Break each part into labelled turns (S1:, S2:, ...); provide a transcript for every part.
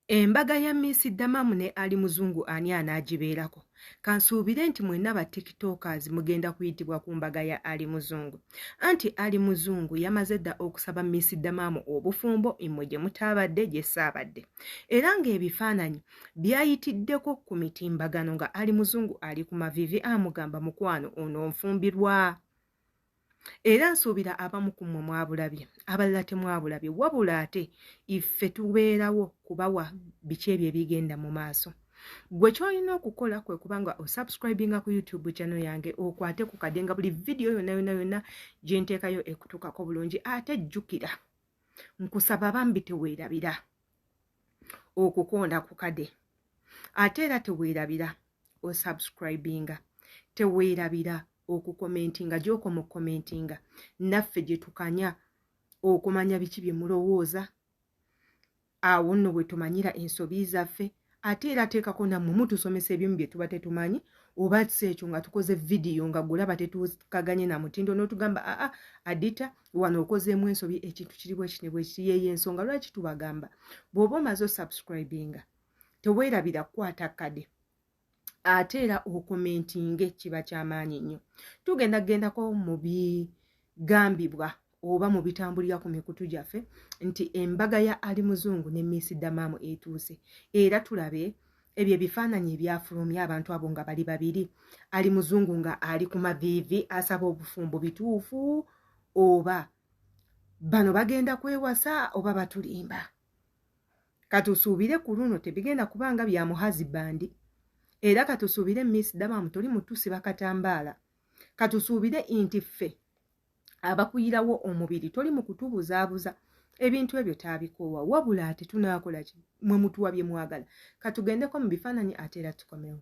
S1: Embaga ya Miss Damamu ne Ali Muzungu ani anaagibeerako? Kansuubire nti mwenna ba tiktokers mugenda kuyitibwa ku mbaga ya Ali Muzungu. Anti Ali Muzungu yamaze dda okusaba Miss Damamu obufumbo mmwe gye mutaabadde gye ssaabadde. Era ng'ebifaananyi byayitiddeko ku mitimbagano nga Ali Muzungu ali ku mavivi amugamba mukwano ononfumbirwa. era nsuubira abamu ku mmwe mwabulabye abalala temwabulabye wabula ate iffe tubeerawo kubawa biki ebyo ebigenda mu maaso gwe kyolina okukola kwe kubanga osubscribinga ku youtube channel yange okwate ku kade nga buli vidiyo yonna yonna yonna gyenteekayo ekutuukako bulungi ate jjukira nkusaba bambi teweerabira okukonda ku kade ate era teweerabira osubscribinga teweerabira okukomentinga gyokoma okukomentinga naffe gyetukanya okumanya biki bye mulowooza awo nno bwe tumanyira ensobi zaffe ate era teekako nammwe mutusomesa ebimu bye tuba tetumanyi oba si ekyo nga tukoze vidiyo nga gulaba tetukaganye na mutindo n'otugamba aa adita wano okozeemu ensobi ekintu kiri bwekine bwekiri yeyo ensonga lwaki tubagamba bw'oba omaze osubscribinga teweerabira kukwata kade ate era okomentinge kiba kyamaanyi nnyo tugenda kugendako mu bigambibwa oba mu bitambulira ku mikutu gyaffe nti embaga ya ali muzungu ne miisi damaamu etuuse era tulabe ebyo ebifaananyi ebyafulumya abantu abo nga bali babiri ali muzungu nga ali ku maviivi asaba obufumbo bituufu oba bano bagenda kwewasa oba batulimba katusuubire ku luno tebigenda kuba nga bya muhazi bandi era katusuubire miss dabamu toli mutusi bakatambaala katusuubire nti ffe abakuyirawo omubiri toli mu kutubuzaabuza ebintu ebyo taabikoowa wabula ate tunaakola ki mwe mutuwa bye mwagala katugendeko mu bifaananyi ate era tukomewo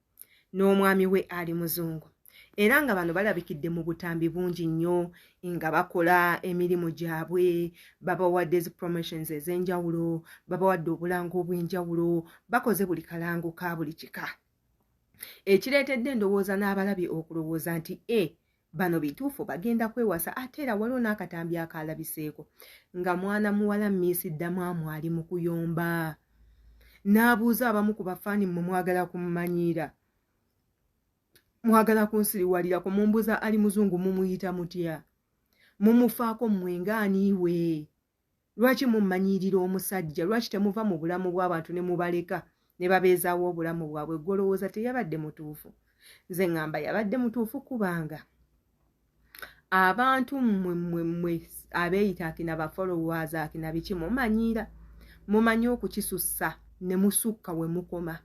S1: n'omwami we ali muzungu era nga bano balabikidde mu butambi bungi nnyo nga bakola emirimu gyabwe babawadde zi promotions ez'enjawulo babawadde obulango obw'enjawulo bakoze buli kalango ka buli kika ekireetedde endowooza n'abalabi okulowooza nti e bano bituufu bagenda kwewasa ate era waliwo n'akatambi akaalabiseeko nga mwana muwala miisi ddamwamu ali mu kuyomba n'abuuza abamu ku bafaani mmwe mwagala kumumanyiira mwagala kunsiriwalirako mumbuza ali muzungu mumuyita mutya mumufaako mmwe ngaaniiwe lwaki mummanyiirira omusajja lwaki temuva mu bulamu bw'abantu ne mubaleka ne babeezaawo obulamu bwabwe gwolowooza teyabadde mutuufu nze ŋŋamba yabadde mutuufu kubanga abantu mmwe mmwe mmwe abeeyita akina bafolowers akina biki mumanyiira mumanyi okukisussa ne musukka we mukoma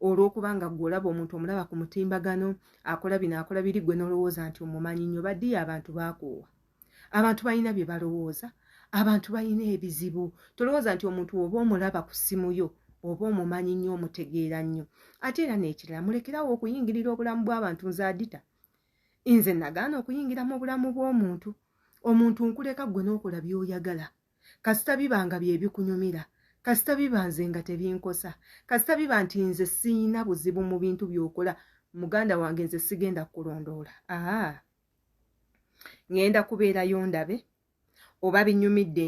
S1: olw'okuba nga gwe olaba omuntu omulaba ku mutimbagano akola bino akola biri gwe n'olowooza nti omumanyi nnyo badiyo abantu baakoowa abantu balina bye balowooza abantu balina ebizibu tolowooza nti omuntu oba omulaba ku ssimu yo oba omumanyi nnyo omutegeera nnyo ate era n'ekirala mulekerawo okuyingirira obulamu bw'abantu nze adita nze nagaana okuyingira mu bulamu bw'omuntu omuntu nkuleka ggwe n'okola by'oyagala kasita biba nga bye bikunyumira kasita biba nze nga tebinkosa kasita biba nti nze siyina buzibu mu bintu by'okola muganda wange nze sigenda kulondoola aa ah. ŋŋenda kubeerayo ndabe oba binyumidde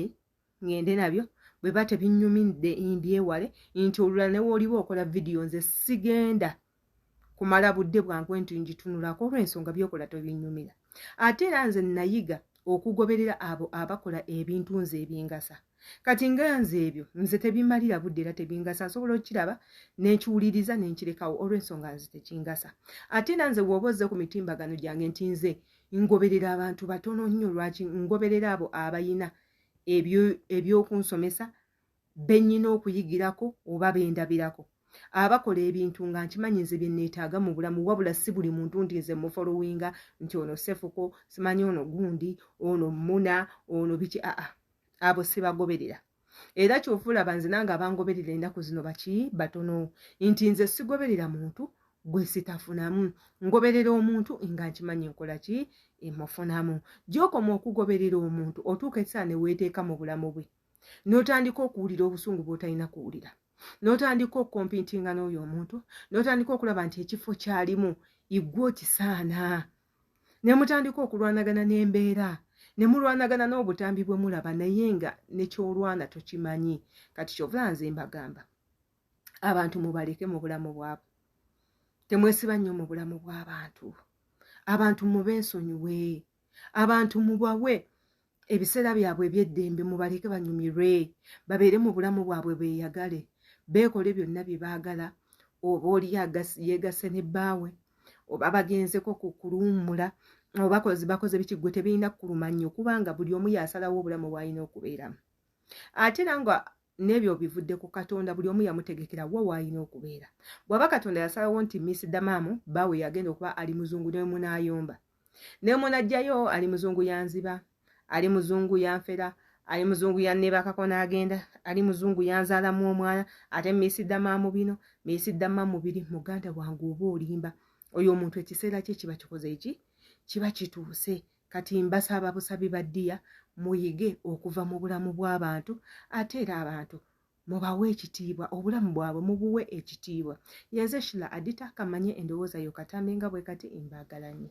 S1: ŋŋende nabyo bwe ba tebinyumidde mbyewale nti olulala ne wooliba okola vidiyo nze sigenda kumala budde bwangu nti ngitunulako olw'ensonga byokola tobinyumira ate era nze nayiga okugoberera abo abakola ebintu nze ebingasa kati nga nze ebyo nze tebimalira budde era tebingasa nsobola okukiraba nenkiwuliriza nenkirekawo olwensonga nze tekingasa ate era nze wooba ozze ku mitimbagano gyange nti nze ngoberera abantu batono nnyo lwaki ngoberera abo abayina ebyokunsomesa benyina okuyigirako oba bendabirako abakola ebintu nga nkimanyi nze byenneetaaga mu bulamu wabula si buli muntu nti nze mufolowinga nti ono sefuko simanyi ono gundi ono muna ono biki aa abo sibagoberera era kyova olaba nze nange abangoberera ennaku zino baki batono nti nze sigoberera muntu gwe sitafunamu ngoberera omuntu nga nkimanyi nkola ki emufunamu gyokoma okugoberera omuntu otuuka ekisaa neweeteeka mu bulamu bwe n'otandika okuwulira obusungu bwotalina kuwulira n'otandika okukompintinga n'oyo omuntu n'otandika okulaba nti ekifo kyalimu igwe okisaana ne mutandika okulwanagana n'embeera ne mulwanagana n'obutambi bwe mulaba naye nga nekyolwana tokimanyi kati kyovula nze mbagamba abantu mubaleke mu bulamu bwabwe temwesiba nnyo mu bulamu bw'abantu abantu mube nsonyiwe abantu mubawe ebiseera byabwe ebyeddembe mubaleke banyumirwe babeere mu bulamu bwabwe beyagale beekole byonna bye baagala oba oli yeegasse ne bbaawe oba bagenzeko ku kuluwummula obakozi bakoze biki gwe tebirina kukuluma nnyo kubanga buli omu yasalawo obulamu bwalina okubeeramu ate era nga n'ebyo obivudde ku katonda buli omu yamutegekera wa waalina okubeera bw'aba katonda yasalawo nti miss damamu baawe yagenda okuba ali muzungu ne munaayomba naye omwana ajjayo ali muzungu yanziba ali muzungu yanfera ali muzungu yanneebakako n'agenda ali muzungu yanzaalamu omwana ate miisiddama mu bino miisiddama mubiri muganda wange oba olimba oyo omuntu ekiseera kye kiba kikoze eki kiba kituuse kati mbasaba busabi baddiya muyige okuva mu bulamu bw'abantu ate era abantu mubawe ekitiibwa obulamu bwabwe mubuwe ekitiibwa yenze shila adita kamanye endowooza yo katambi nga bwe kati imbaagalanyo